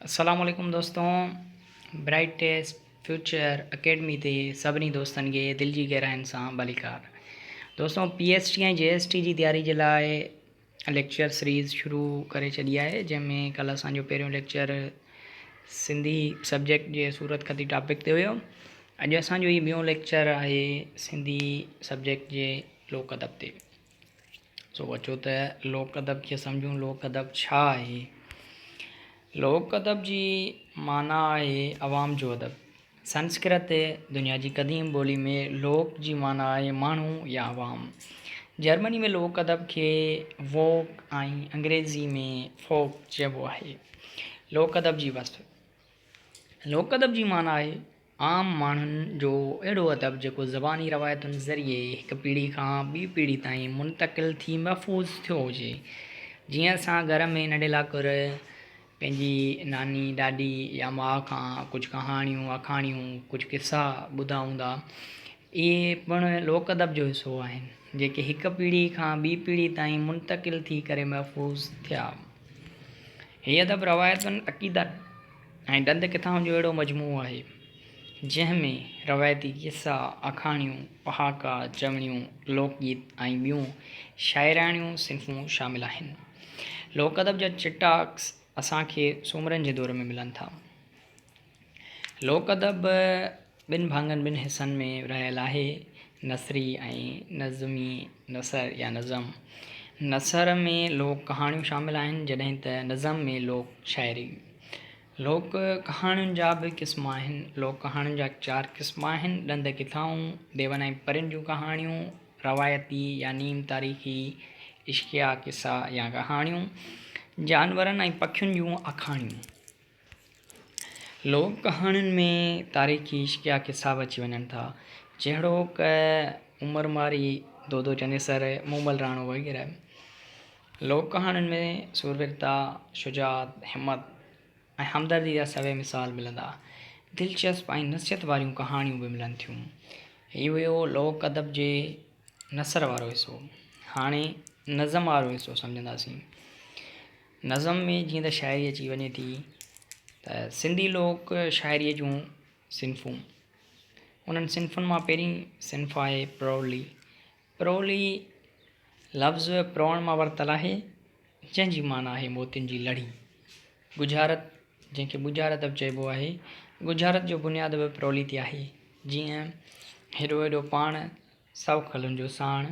السلام عليڪم دوستون برائيٽ ٽيس فيوچر اڪيڊمي تي سڀني دوستن کي دل جي گهرائين سان ڀليڪار دوستون P S T ۽ G S T جي تياري جي لاء ليڪچر سيريز شروع ڪري ڇڏي آهي جنهن ۾ ڪلهه اسان جو پهريون ليڪچر سنڌي سبجيڪٽ جي صورت خطي ٽاپڪ تي هيو اڄ اسان جو هي ٻيون ليڪچر آهي سنڌي سبجيڪٽ جي لوڪ ادب تي سو اچو ته لوڪ ادب کي سمجهون لوڪ ادب ڇا آهي لوڪ ادب جي معنيٰ آهي عوام جو ادب سنسڪرت دنيا جي قديم ٻولي ۾ لوڪ جي معنيٰ آهي ماڻهو يا عوام جرمني ۾ لوڪ ادب کي ووڪ ۽ انگريزي ۾ فوڪ چئبو آهي لوڪ ادب جي وصف لوڪ ادب جي معنيٰ آهي عام ماڻهن جو اهڙو ادب جيڪو زباني روايتن ذريعي هڪ پيڙهي کان ٻي پيڙهي تائين منتقل ٿي محفوظ ٿيو هجي. جيئن اسان گهر ۾ ننڍي لاڪر پنهنجي ناني، ڏاڏي يا ماء کان ڪجهه ڪهاڻيون، آکاڻيون، ڪجهه قصا ٻڌا هوندا، اهي پڻ لوڪ ادب جو حصو آهن، جيڪي هڪ پيڙهي کان ٻي پيڙهي تائين منتقل ٿي ڪري محفوظ ٿيا. هي ادب روايتن، عقيدن. ۽ ڏند ڪٿائن جو اهڙو مجموعو آهي، جنهن ۾ روايتي قصا، آکاڻيون، پهاڪا، چوڻيون، لوڪ گيت ۽ ٻيون شاعراڻيون صنفون شامل آهن. لوڪ ادب جا چٽا عڪس اسان کي سومرن جي دور ۾ ملن ٿا. لوڪ ادب. ٻن ڀاڱن، ٻن حصن، ۾ ورهايل آهي، نثري ۽ نظمي نثر يا نظم. نثر ۾ لوڪ ڪهاڻيون شامل آهن، جڏهن ته نظم ۾ لوڪ شاعري. لوڪ ڪهاڻين جا به قسم آهن. لوڪ ڪهاڻين جا چار قسم آهن، ڏند ڪٿائون، ديون ۽ پرين جون ڪهاڻيون، روايتي يا نيم تاريخي عشقيه قصا يا ڪهاڻيون، جانورن ۽ پکين جون آکاڻيون. لوڪ ڪهاڻين ۾ تاريخي عشقيه قصا به اچي وڃن ٿا، جهڙوڪ، عمر مارئي، دودو چنيسر، مومل راڻو وغيره. لوڪ ڪهاڻين ۾ سورويرتا، شجاعت، همت ۽ همدردي جا سوين مثال ملندا. دلچسپ ۽ نصيحت واريون ڪهاڻيون به ملن ٿيون. هي هيو لوڪ ادب جي نثر وارو حصو. هاڻي نظم وارو حصو سمجهنداسين. نظم ۾ جيئن ته شاعري اچي وڃي ٿي ته سنڌي لوڪ شاعريء جون صنفون انهن صنفن مان پهرين صنف آهي پرولي پرولي لفظ پروڻ مان ورتل آهي جنهن جي معنيٰ آهي موتين جي لڙي ڳجهارت جنهن کي ڳجهارت به چئبو آهي ڳجهارت جو بنياد به پرولي تي آهي جيئن هيڏو هيڏو پاڻ سؤ کلن جو ساڻ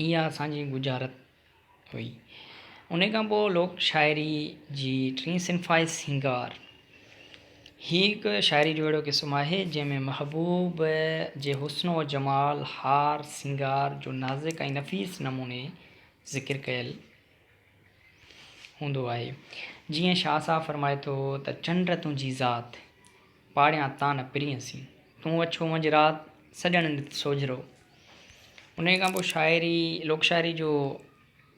اها اسان جي ڳجهارت هئي. انهيء کان پوء لوڪ شاعريء جي ٽين صنف آهي سينگار. هيء هڪ شاعريء جو اهڙو قسم آهي، جنهن ۾ محبوب جي حسن و جمال، هار سينگار، جو نازڪ ۽ نفيس نموني ذڪر ڪيل هوندو آهي. جيئن شاهه صاحب فرمائي ٿو ته چنڊ تنهنجي ذات. پاڙيان تان پرينء سين. تون اڇو منجھ رات، سڄڻ نت سوجھرو. انهيء کان پوء شاعري، لوڪ شاعري جو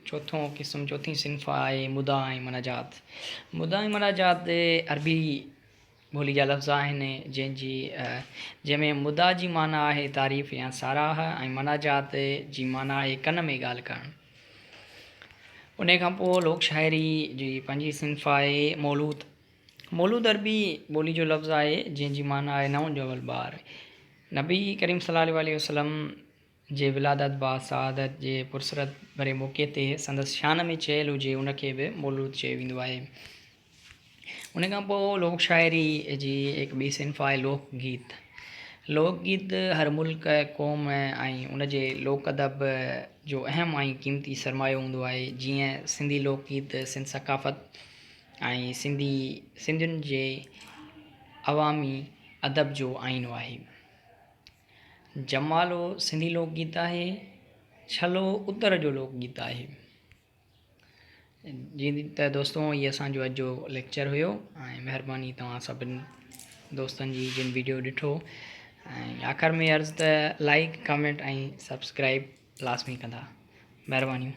چوٿون قسم، چوٿين صنف آهي مداح ۽ مناجات. مداح ۽ مناجات عربي ٻولي جا لفظ آهن، جنهن جي جنهن ۾ مداح جي معنيٰ آهي تعريف يا ساراهه ۽ مناجات جي معنيٰ آهي ڪن ۾ ڳالهه ڪرڻ. انهيء کان پوء لوڪ شاعري جي پنجين صنف آهي مولوت. مولود عربي ٻولي جو لفظ آهي جنهن جي معنيٰ آهي نئون ڄاول ٻار. نبي ڪريم صلي الله عليه وسلم جي ولادت بعد سعادت جي پرسرت ڀري موقعي تي سندس شان ۾ چيل هجي ان کي به مولود چيو ويندو آهي. ان کان پوء لوڪ شاعري جي هڪ ٻي صنف آهي لوڪ گيت. لوڪ گيت هر ملڪ، قوم ۽ ان جي لوڪ ادب جو اهم ۽ قيمتي سرمايو هوندو آهي. جيئن سنڌي لوڪ گيت سنڌ ثقافت. ۽ سنڌي سنڌين جي عوامي ادب جو آئينو آهي. جمالو سنڌي لوڪ گيت آهي. ڇلو اتر جو لوڪ گيت آهي. جي ته دوستو هي اسانجو اڄ جو ليڪچر هيو ۽ مهرباني توهان سڀن دوستن جي جن ويڊيو ڏٺو ۽ آخر ۾ عرض ته لائڪ ڪمينٽ ۽ سبسڪرائب لازمي ڪندا مهربانيون